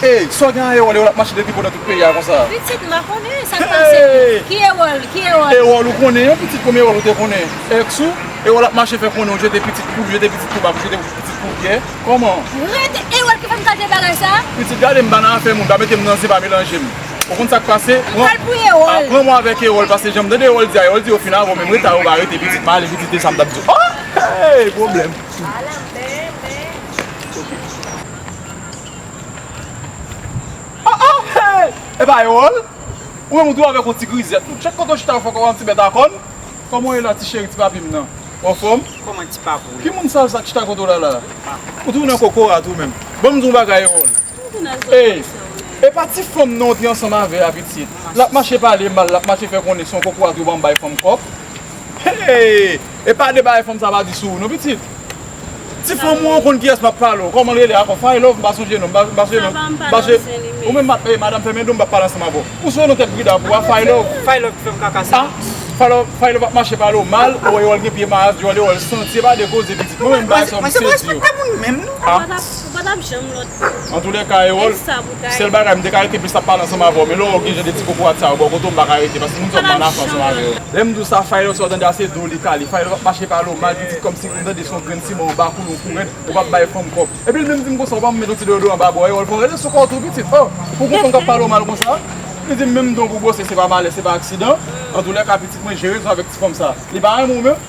Hey sa w gen a Erol, Erol ap mache depi konnen tout peyi a konsa. Pitit mwen konnen sak pase ki Erol ki Erol. Erol ou konnen yon pitit kòm Erol ou te konnen ex ou Erol ap mache fè konnen ou jete pitit pou jete pitit pou bak ou jete pitit pou pyè kòman. Ret Erol ki fèm tande bagay sa. Pitit gade m pa nan afè moun pa mete m nan zen pa melanje m ou konn sak pase pran mwen avèk Erol pase janm tande Erol di a Erol di yo fin avè w men m reta yo pa rete pitit male pitit de sam tap di w oh hey pwoblèm. Ah ah hey Epa yo all Ou menm ou tou avèk yon ti grizèt tou Chak kote ou chita ou fè kòw an ti bèt a kòn Kòman ou ye la ti cheri ti papim nan Ou anfòm Kòman ti papou yo Ki moun sal sa k chita kote w la la a Ou tou nan kokorat ou menm Ban m di w yon bagay yo all Hey Epa ti fanm nan ou te ansanm avè a pitit L ap mache pale mal l ap mache fè konnen se yon kokorat yo ban bay fanm kòb. Hey! E pa de bagay fanm sa pa di sou ou non pitit. Ti fanm ou an konn kiyès map pale ou. Kòman li rele ankò? Faye Love? M pa sonje non. M pa sonje non. Savan m pa nan zen li menm. Ou menm map, madam fèmen do m m pap pale ansanm avè w. Ou sou non tèt brida pou ou a Faye Love? Faye Love ki fè m kaka sa. Ah! Faye Love ap mache pale ou mal, ou wè yo wè l gen pye mayas, yo wè l yo wè l santi. E pa de koze pitit. Mwen menm bagay sa yo m sezi yo. Mwen se pa respekte moun menm non. Ou pa tap janm lòd pou ou. Antoulèka e wòl. Sèl bagay, m te ka rete plis ap pale ansanm avè w, men lè w wè w gen jan de ti kokorat sa yo bò kote w m pa ka rete, paske m twò mal afè ansanm avè w. Lè m di w sa, Faylo, sa w tande a se do li kale. Faylo pa p mache pale w mal pitit kòmsi m tande son grenn siman w bakoul ou kourèt, ou pa p bay fanm kòb. Epi l menm di m konsa, ou pa met yon ti deyodoran ba bòyè w, l konn rele sou kò w tou pitit. O! Pou gon fanm k ap pale w mal konsa? Li di m menm don pou gwose se pa malè, se pa aksidan. Antoulèka pitit mwen, jere l sou avèk ti fanm sa. Li pa renmen w menm?